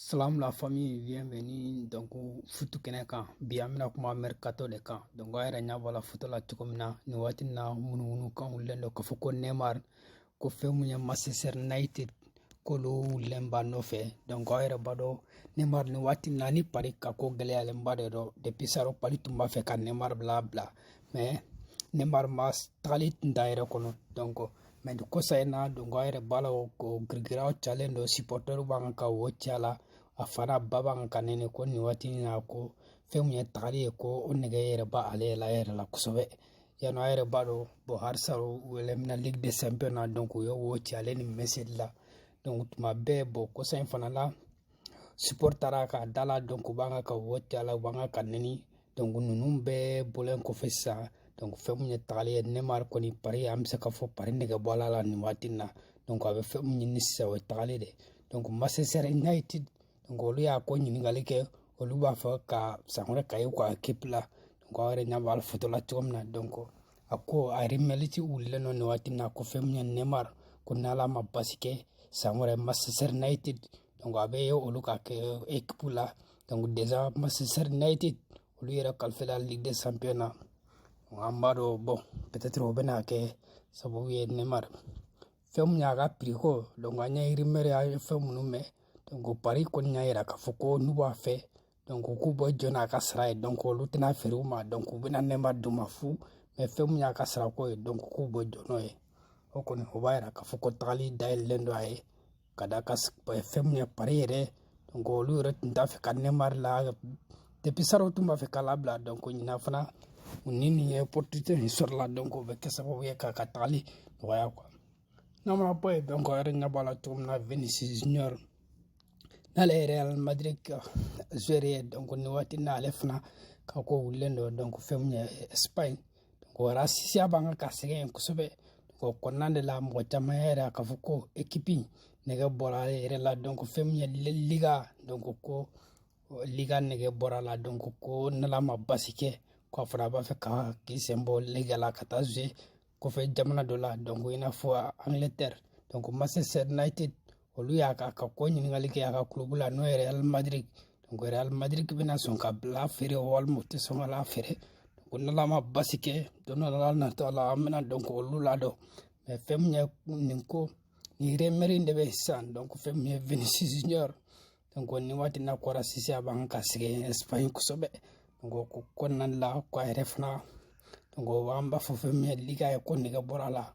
Salam la famille bienvenue donc futu kɛnɛ kan bi an bɛna kuma mercato de kan donc aw yɛrɛ ɲɛ b'a la foto la cogo min na nin waati in na ŋunuŋunukan wulilen don k'a fɔ ko neymar ko fɛn mun ye manchester united k'olu wulilen b'a nɔfɛ donc aw yɛrɛ b'a dɔn neymar nin waati in na ni paris ka ko gɛlɛyalenba de don depuis salon paris tun b'a fɛ ka neymar labila mais neymar ma tagali tun t'a yɛrɛ kɔnɔ donc mais nin kɔsa in na donc a yɛrɛ b'a la ko girigaraw calen don sipɔtɛriw b'a kan ka wo ci a la a fana ba b'an kan ne ko nin waati in na ko fɛn min ye tagali ye ko o nɛgɛ yɛrɛ b'ale yɛrɛ yɛrɛ la kosɛbɛ yanni a yɛrɛ b'a dɔn bon halisa u eliminɛna ligue des champions na donc u ye wo ci ale ni messi la donc tuma bɛɛ bon kɔsa in fana la supporters taara a ka da la donc u b'a kan ka wo ci a la u b'a kan k'a nɛni donc ninnu bɛɛ bɔlen kɔfɛ sisan donc fɛn mun ye tagali ye neymar kɔni paris an bɛ se ka fɔ paris nɛgɛ bɔra a la nin waati na donc a bɛ fɛn mun ɲini sisan o ye tagali de donc manchester united donc olu y'a ko ɲininkali kɛ olu b'a fɛ ka san wɛrɛ ka ye ka équipe la donc aw yɛrɛ ɲɛ b'a la foto la cogo min na donc a ko a rumeur de wulilen don nin waati na ko fɛn mun ye neymar ko n'ala ma basi kɛ san wɛrɛ manchester united donc a bɛ olu ka kɛ ekipu la donc déjà manchester united olu yɛrɛ qualifiéla ligue des champions na an b'a dɔn bon peut être o bɛna kɛ sababu ye neymar fɛn mun y'a ka prix ko donc an ye rumeur y'a ye fɛn minnu mɛn donc paris kɔni y'a yira k'a fɔ ko n'u b'a fɛ donc k'u bɛ jɔ n'a ka sara ye donc olu tɛna a feere u ma donc u bɛna neymar d'u ma fu mais fɛn mun y'a ka sarako ye donc k'u bɛ jɔ n'o ye o kɔni o b'a yira k'a fɔ ko tagali dayɛlɛlen don a ye k'a da kan fɛn min ye paris yɛrɛ donc olu yɛrɛ tun t'a fɛ ka neymar la depuis salon u tun b'a fɛ k'a labila donc ɲinan fana u ni nin ye opportunité nin sɔrɔla donc o bɛ kɛ sababu ye k'a ka tagali nɔgɔya quoi n'a mana bɔ yen donc aw yɛrɛ ɲɛ b'a la cogo min na vinicius junior n'ale ye real madrid ka joueur ye donc nin waati na ale fana ka ko wulilen don donc fɛn min ye espagne O rasisiya b'a kan k'a sɛgɛn yen kosɛbɛ o kɔnɔna de la mɔgɔ caman yɛrɛ k'a fɔ ko ekipi nɛgɛ bɔra ale yɛrɛ la donc fɛn min ye liga donc ko liga nɛgɛ bɔra a la donc ko n'ala ma basi kɛ ko a fana b'a fɛ ka k'i sen bɔ liga la ka taa jouer kɔfɛ jamana dɔ la donc i n'a fɔ angleterre donc manchester united olu y'a ka ko ɲininkali kɛ a ka kulobu la n'o ye real madrid donc real madrid bɛna sɔn k'a bila feere walima u tɛ sɔn k'a lafeere ko n'ala ma basi kɛ don dɔ la natɔ la an bɛna donc olu ladɔn mais fɛn min ye nin ko nin rumeur de bɛ sisan donc fɛn min ye vinicius junior donc nin waati na ko rasisiya b'a kan k'a sɛgɛn espagne kosɛbɛ donc o kɔnɔna la ko a yɛrɛ fana donc an b'a fɔ fɛn min ye liga ye k'o nɛgɛ bɔra a la